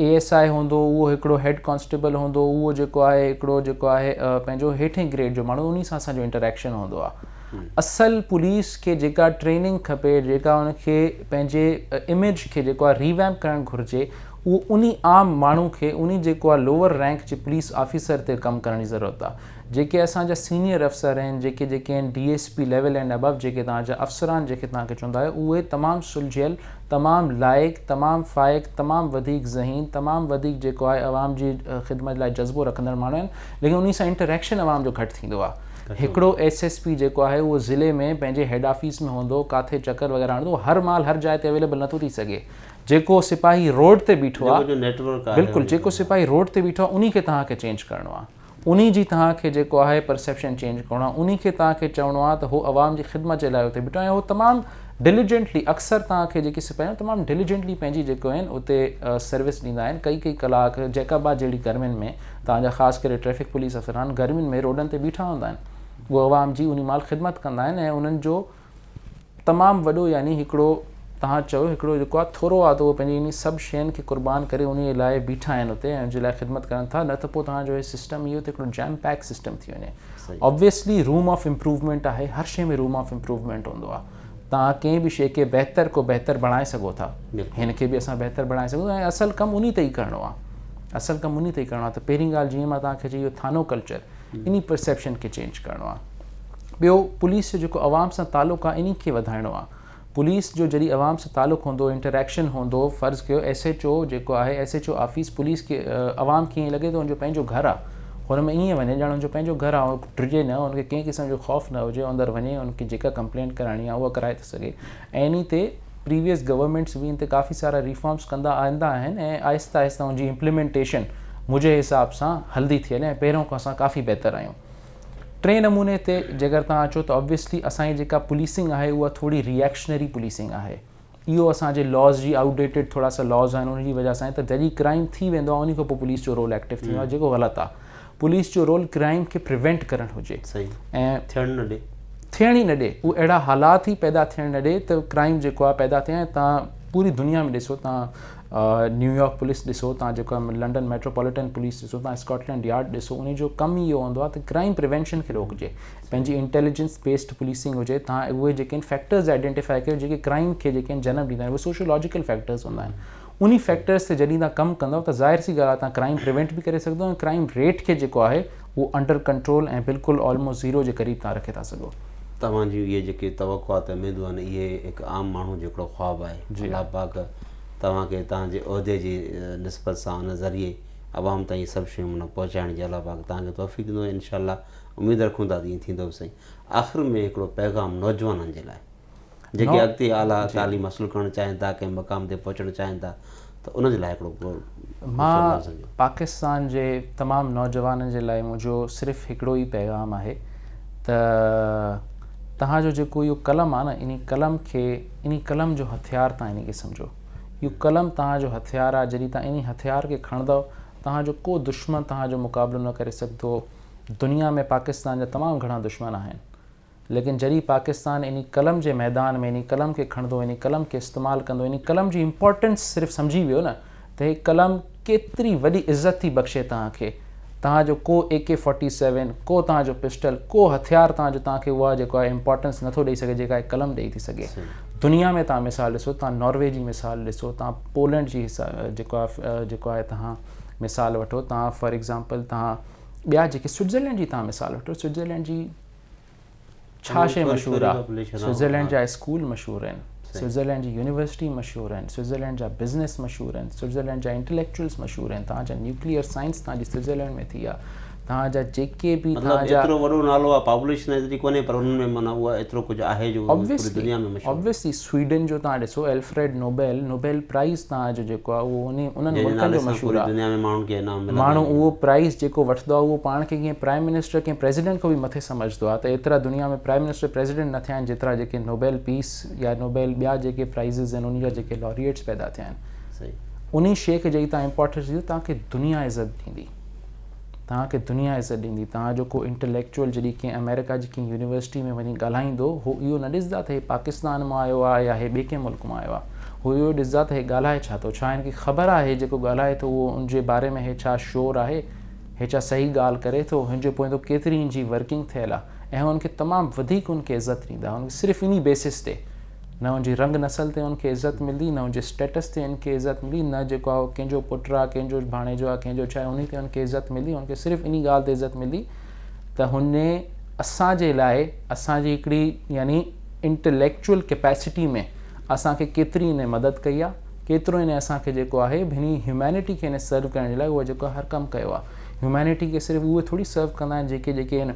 اي ايس آء هوندو اهو هڪڙو هيڊ ڪانسٽيبل هوندو اهو جيڪو آهي هڪڙو جيڪو آهي پنهنجو هيٺين گريڊ جو ماڻهو انهي سان اسان جو انٽريڪشن هوندو آهي اصل پوليس کي جيڪا ٽريننگ کپي جيڪا ان کي پنهنجي اميج کي جيڪو آهي ريويمپ ڪرڻ گهرجي اهو انهي عام ماڻهو کي انهي جيڪو آهي لوور رينڪ جي پوليس آفيسر تي ڪم ڪرڻ جي ضرورت آهي جيڪي اسان جا سينئر افسر آهن جيڪي جيڪي آهن D S P level and ابو جيڪي توهان جا افسران جيڪي توهان کي چوندا آهيو اهي تمام سلجهيل تمام لائق تمام فائق تمام وڌيڪ ذهين تمام وڌيڪ جيڪو آهي عوام جي خدمت لاء جذبو رکندڙ ماڻهو آهن ليڪن انهي سان انٽريڪشن عوام جو گهٽ ٿيندو آهي هڪڙو ايس ايس پي جيڪو آهي اهو ضلعي ۾ پنهنجي هيڊ آفيس ۾ هوندو ڪاٿي چڪر وغيره هڻندو هر مال هر جاء تي اويليبل نٿو ٿي سگهي جيڪو سپاهي روڊ تي بيٺو آهي بلڪل جيڪو سپاهي روڊ تي بيٺو آهي انهي کي توهان کي چينج ڪرڻو آهي انهي جي توهان کي جيڪو آهي پرسيپشن چينج ڪرڻو آهي انهي کي توهان کي چوڻو آهي ته هو عوام جي خدمت جي لاء اتي بيٺو آهي ۽ هو تمام ڊليجنٽلي اڪثر توهان کي جيڪي سپاهي آهن تمام ڊليجنٽلي پنهنجي جيڪو آهن اتي سروس ڏيندا آهن ڪئي ڪئي ڪلاڪ جيڪب آباد جهڙي گرمين ۾ توهان جا خاص ڪري ٽريفڪ پوليس افسران گرمين ۾ روڊن تي بيٺا هوندا آهن هو عوام جي انهي مهل خدمت ڪندا آهن ۽ انهن جو تمام وڏو يعني هڪڙو توهان چئو هڪڙو جيڪو آ ٿورو آ ته اهو پنهنجي انهي سڀ شين کي قربان ڪري انهي لاء بيٺا آهن اتي ۽ ان جي لاء خدمت ڪرن ٿا نه ته پوء توهان جو هي سسٽم اهو ته هڪڙو جيم پيڪ سسٽم ٿي وڃي اوبويسلي روم آف امپروومينٽ آهي هر شي ۾ روم آف امپروومينٽ هوندو آ توهان ڪنهن به شي کي بهتر کو بهتر بڻائي سگهو ٿا هن کي به اسان بهتر بڻائي سگهون ٿا ۽ اصل ڪم انهي تي ئي ڪرڻو آ اصل ڪم انهي تي ئي ڪرڻو آ ته پهرين ڳالهه جيئن مان توهان کي چئي ويو ٿانو ڪلچر انهي پرسيپشن کي چينج ڪرڻو آ. ٻيو پوليس جو جيڪو عوام سان تعلق آ انهي کي وڌائڻو آ. پوليس جو جڏهن عوام سان تعلق هوندو انٽرايڪشن هوندو فرض ڪيو ايس ايچ او جيڪو آهي S H O office police کي عوام کي ائين لڳي ٿو ان جو پنهنجو گهر آ هن ۾ ائين وڃي ڄڻ ان جو پنهنجو گهر آ ڊڄي نه ان کي ڪنهن قسم جو خوف نه هجي اندر وڃي ان کي جيڪا ڪمپلينٽ ڪرائڻي آ اها ڪرائي ٿو سگهي ۽ انهي تي پريويس گورنمينٽس به ان تي ڪافي سارا ريفارمس ڪندا آندا آهن ۽ آهستي آهستي ان جي امپليمينٽيشن منهنجي حساب سان هلدي ٿي هلي ۽ پهريون کان اسان ڪافي بهتر آهيون ٽئين نموني تي جيڪر توهان اچو ته آبويسلي اسان جي جيڪا پوليسنگ آهي اها ٿوري ريئڪشنري پوليسنگ آهي اهو اسان جي لاز جي آؤٽ ڊيٽيڊ ٿورا سا لاز آهن ان جي وجه سان ته جڏهن ڪرائم ٿي ويندو آهي ان کان پوء پوليس جو رول ايڪٽو ٿيندو آهي جيڪو غلط آهي پوليس جو رول ڪرائيم کي پريوينٽ ڪرڻ هجي ۽ ٿيڻ نه ڏي ٿيڻ ئي نه ڏي هو اهڙا حالات ئي پيدا ٿيڻ نه ڏي ته ڪرائيم جيڪو آهي پيدا ٿئي ۽ تان پوري دنيا ۾ ڏسو تان نيويارڪ پوليس ڏسو تان جيڪو لنڊن ميٽروپوليٽن پوليس ڏسو تان اسڪاٽلينڊ يارڊ ڏسو ان جو ڪم ئي اهو هوندو آهي ته ڪرائيم پريوينشن کي روڪجي پنهنجي انٽيليجنس بيسڊ پوليسنگ هجي تان اهي جيڪي فيڪٽرز آئيڊينٽيفائي ڪيو جيڪي ڪرائيم کي جيڪي جنم ڏيندا آهن اهي سوشولاجيڪل فيڪٽرز هوندا آهن انهي فيڪٽرز تي جڏهن توهان ڪم ڪندؤ ته ظاهر سي ڳالهه آهي توهان ڪرائيم پريونٽ به ڪري سگهندو ۽ ڪرائيم ريٽ کي جيڪو آهي اهو انڊر ڪنٽرول ۽ بلڪل آلموسٽ زيرو جي قريب توهان رکي ٿا سگهو. توهان جون اهي جيڪي توقعات ۽ اميدون آهن اهي هڪ عام ماڻهو جو هڪڙو خواب آهي. الله پاڪ توهان کي توهان جي عهدي جي نسبت سان ان ذريعي عوام تائين اهي سڀ شيون معنيٰ پهچائڻ جي الله پاڪ توهان کي توفيق ڏيندو ۽ انشاء الله اميد رکون ٿا ته ائين ٿيندو به سهي. آخر ۾ هڪڙو پيغام نوجوانن جي لاء. جيڪي اڳتي اعليٰ تعليم حاصل ڪرڻ چاهين ٿا ڪنهن مقام تي پهچڻ چاهين ٿا ته ان جي لاء هڪڙو مان پاڪستان جي تمام نوجوانن جي لاء منهنجو صرف هڪڙو ئي پيغام آهي ته تهان جو جيڪو اهو قلم آهي نه ان قلم کي ان قلم جو هٿيار تهان ان کي سمجهو اهو قلم تهان جو هٿيار آهي جڏهن تهان ان هٿيار کي کڻندو تهان جو ڪو دشمن تهان جو مقابلو نه ڪري سگهندو دنيا ۾ پاڪستان جا تمام گهڻا دشمن آهن ليڪن جڏهن پاڪستان انهي قلم جي ميدان ۾ انهي قلم کي کڻندو انهي قلم کي استعمال ڪندو انهي قلم جي امپورٽنس صرف سمجهي ويو نه ته هي قلم ڪيتري وڏي عزت ٿي بخشي توهان کي توهان جو ڪو اي ڪي فورٽي سيون ڪو توهان جو پسٽل ڪو هٿيار توهان جو توهان کي اها جيڪو آهي امپورٽنس نٿو ڏئي سگهي جيڪا هي قلم ڏئي ٿي سگهي دنيا ۾ توهان مثال ڏسو توهان ناروي جي مثال ڏسو توهان پولينڊ جي جيڪو آهي جيڪو آهي توهان مثال وٺو توهان فار ايگزامپل توهان ٻيا جيڪي سوئٽزرلينڊ جي توهان مثال وٺو سوئٽزرلينڊ جي ڇا شيء مشهور آ؟ سوئٽزرلينڊ جا اسڪول مشهور آهن، سوئٽزرلينڊ جي يونيورسٽي مشهور آهن، سوئٽزرلينڊ جا بزنس مشهور آهن، سوئٽزرلينڊ جا انٽليڪچوئلز مشهور آهن، توهان جا نيوڪليئر سائنس توهان جي سوئٽزرلينڊ ۾ ٿي آ، توهان جا جيڪي به توهان جا مطلب ايترو وڏو نالو آ، پاپوليشن ايتري ڪونهي پر ان ۾ معنيٰ اها ايترو ڪجهه آهي جو پوري دنيا ۾ مشهور آهي. Obviously، Obviously، سويڊن جو توهان ڏسو الفريڊ نوبيل، نوبيل پرائز توهان جو جيڪو آهي اهو انهي انهن جنهن جي ملڪن نالي جو سان مشهور پوري آهي. دنيا ۾ ماڻهن کي انعام ملندا ماڻهو آهن. اهو پرائز جيڪو وٺدو آهي اهو پاڻ کي ڪنهن پرائم منسٽر ڪنهن پريزيڊنٽ کان به مٿي سمجهدو آهي ته ايترا دنيا ۾ پرائم منسٽر پريزيڊنٽ نه ٿيا آهن جيترا جيڪي نوبيل پيس يا نوبيل ٻيا جيڪي پرائزز آهن انهي جا جيڪي لاريئيٽس پيدا ٿيا آهن صحيح. انهي شيء کي جڏهن توهان امپارٽنس ڏيندو توهان کي دنيا عزت ڏيندي. توهان کي دنيا عزت ڏيندي، توهان جو ڪو انٽليڪچوئل جڏهن ڪنهن آمريڪا جي ڪنهن يونيورسٽي ۾ وڃي ڳالهائيندو، هو اهو نه ڏسدا ته هي پاڪستان مان آيو آهي يا هي ٻئي ڪنهن ملڪ مان آيو آهي، هو اهو ڏسدا ته هي ڳالهائي ڇا ٿو، ڇا هن کي خبر آهي جيڪو ڳالهائي ٿو اهو ان جي باري ۾ هي ڇا شور آهي، هي ڇا صحيح ڳالهه ڪري ٿو، هن جي پوئيندو ڪيتري ان جي ورڪنگ ٿيل آهي ۽ هو ان کي تمام وڌيڪ ان کي عزت ڏيندا، هن کي صرف انهي بيسس تي. نه ان جي رنگ نسل تي ان کي عزت ملدي، نه ان جي اسٽيٽس تي ان کي عزت ملدي، نه جيڪو آهي اهو ڪنهن جو پٽ آهي، ڪنهن جو ڀاڻيجو آهي، ڪنهن جو ڇا آهي، انهي تي ان کي عزت ملدي، ان کي صرف انهي ڳالهه تي عزت ملدي ته هن اسان جي لاء اسان جي هڪڙي يعني انٽليڪچوئل ڪيپيسٽي ۾ اسان کي ڪيتري هن مدد ڪئي آهي، ڪيترو هن اسان کي جيڪو آهي هني هيومينٽي کي هن سرو ڪرڻ جي لاء اهو جيڪو هر ڪم ڪيو آهي. هيومينٽي کي صرف اهي ٿوري سرو ڪندا آهن جيڪي جيڪي هن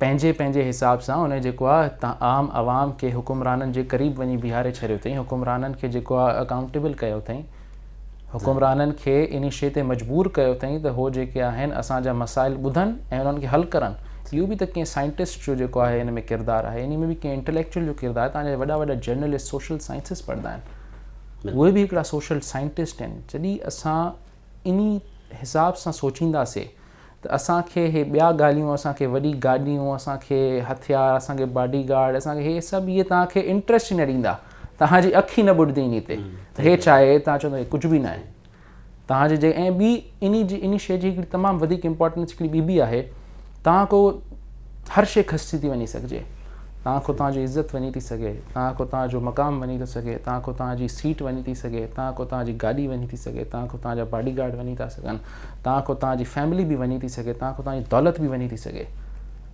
پنهنجي پنهنجي حساب سان ان جيڪو آ عام عوام کي حڪمرانن جي قريب وڃي بيهاري ڇڏيو اٿئي حڪمرانن کي جيڪو آ اڪائونٽيبل ڪيو اٿئي حڪمرانن کي انهي شئي تي مجبور ڪيو اٿئي ته هو جيڪي آهن اسان جا مسائل ٻڌن ۽ انهن کي حل ڪرن اهو به ته ڪنهن سائنٽسٽ جو جيڪو آهي ان ۾ ڪردار آهي انهي ۾ به ڪنهن انٽليڪچوئل جو ڪردار آهي تنهنجا وڏا وڏا جرنلسٽ سوشل سائنسز پڙهندا آهن اهي به هڪڙا سوشل سائنٽسٽ آهن جڏهن اسان انهي حساب سان سوچينداسي ته اسان کي هي ٻيا ڳالهيون اسان کي وڏي گاڏيون اسان کي هٿيار اسان کي باڊي گارڊ اسان کي هي سڀ اهي توهان کي انٽرسٽ ئي نه ڏيندا توهان جي اک ئي نه ٻڏدي انهي تي ته هي ڇا آهي توهان چوندا هي ڪجهه به ناهي توهان جي جي ۽ ٻي انهي جي انهي شي جي هڪڙي تمام وڌيڪ امپورٽنس هڪڙي ٻي به آهي توهان کان هر شي کسجي ٿي وڃي سگهجي توهان کان توهان جي عزت وڃي ٿي سگهي توهان کان توهان جو مقام وڃي ٿو سگهي توهان کان توهان جي سيٽ وڃي ٿي سگهي توهان کان توهان جي گاڏي وڃي ٿي سگهي توهان کان توهان جا باڊي گارڊ وڃي ٿا سگهن توهان کان توهان جي فيملي به وڃي ٿي سگهي، توهان کان توهان جي دولت به وڃي ٿي سگهي،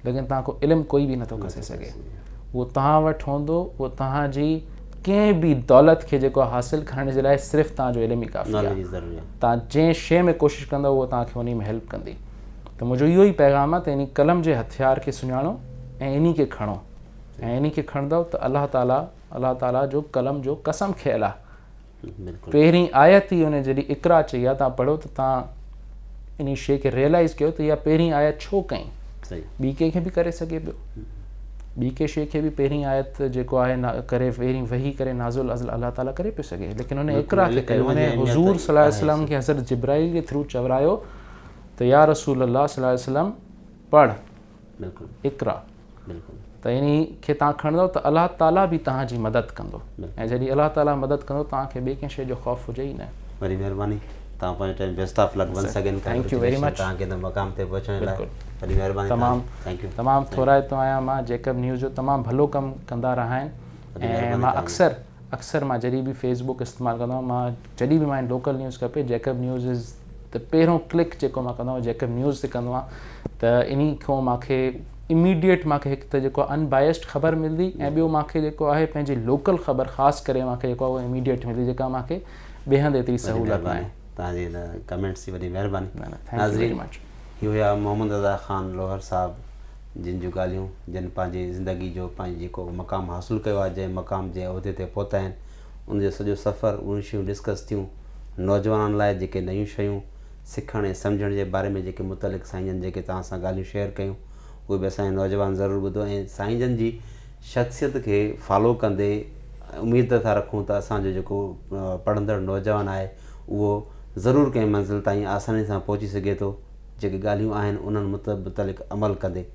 ليڪن توهان کان علم ڪوئي به نٿو کسي سگهي. اهو توهان وٽ هوندو، اهو توهان جي ڪنهن به دولت کي جيڪو حاصل ڪرڻ جي لاء صرف توهان جو علم ئي ڪافي آهي. توهان جنهن شيء ۾ ڪوشش ڪندو اهو توهان کي انهي ۾ هيلپ ڪندي. ته منهنجو اهو ئي پيغام آهي ته انهي قلم جي هٿيار کي سڃاڻو ۽ انهي کي کڻو ۽ انهي کي کڻندؤ ته الله تعاليٰ الله تعاليٰ جو قلم جو قسم کيل آهي. پهرين آيت ئي ان جي اقرا چئي آ تان پڙهو ته تان انهي شيء کي ريئلائز ڪيو ته اها پهرين آيت ڇو ڪئي ٻي ڪنهن کي به ڪري سگهي پيو ٻي ڪنهن شيء کي به پهرين آيت جيڪو آهي ڪري پهرين وحي ڪري نازل ازل الله تعالي ڪري پيو سگهي ليڪن ان اقرا کي ڪيو ان حضور صلي الله عليه وسلم کي حضرت جبرائيل جي ٿرو چورايو ته يا رسول الله صلي الله عليه وسلم پڙهه بلڪل اقرا بلڪل ته انهي کي توهان کڻندؤ ته الله تعالي به توهان جي مدد ڪندو ۽ جڏهن الله تعالي مدد ڪندو توهان کي ٻي ڪنهن شيء جو خوف هجي ئي نه. وڏي مهرباني توهان پنهنجو time best of luck once again congratulation توهان کي هن مقام تي پهچڻ لاء وڏي مهرباني تمام تمام ٿورائتو آهيان مان جيڪب نيوز جو تمام ڀلو ڪم ڪندا رهاين ۽ مان اڪثر اڪثر مان جڏهن به فيس بڪ استعمال ڪندو آهيان مان جڏهن به مان لوڪل نيوز کپي جيڪب نيوز از ته پهريون ڪلڪ جيڪو مان ڪندو آهيان جيڪب نيوز تي ڪندو آهيان ته انهي کان مان کي اميڊيٽ مان کي هڪ ته جيڪو ان بائسڊ خبر ملندي ۽ ٻيو مان کي جيڪو آهي پنهنجي لوڪل خبر خاص ڪري مان کي جيڪو آهي اميڊيٽ ملندي جيڪا مان کي ٻئي هنڌ ايتري سهولت نه آهي تان جي ان ڪمينٽس جي وڏي مهرباني ناظرين هي هيا محمد رضا خان لوهر صاحب جن جون ڳالهيون جن پنهنجي زندگي جو پنهنجي جيڪو مقام حاصل ڪيو آهي جنهن مقام جنهن عهدي تي پهتا آهن ان جو سڄو سفر، اهي شيون ڊسڪس ٿيون، نوجوانن لاء جيڪي نيون شيون سکڻ ۽ سمجهڻ جي باري ۾ جيڪي متعلق سائين جن جيڪي توهان سان ڳالهيون شيئر ڪيون اهي به اسان جا نوجوان ضرور ٻڌو ۽ سائين جن جي شخصيت کي فالو ڪندي اميد ٿا رکون ته اسان جو جيڪو پڙهندڙ نوجوان آهي اهو ضرور ڪنهن منزل تائين آساني سان پهچي سگهي ٿو جيڪي ڳالهيون آهن انهن متعلق عمل ڪندي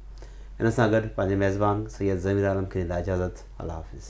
ان سان گڏ پنهنجي ميزبان سيد ضمير عالم کي ڏيندا اجازت الله حافظ.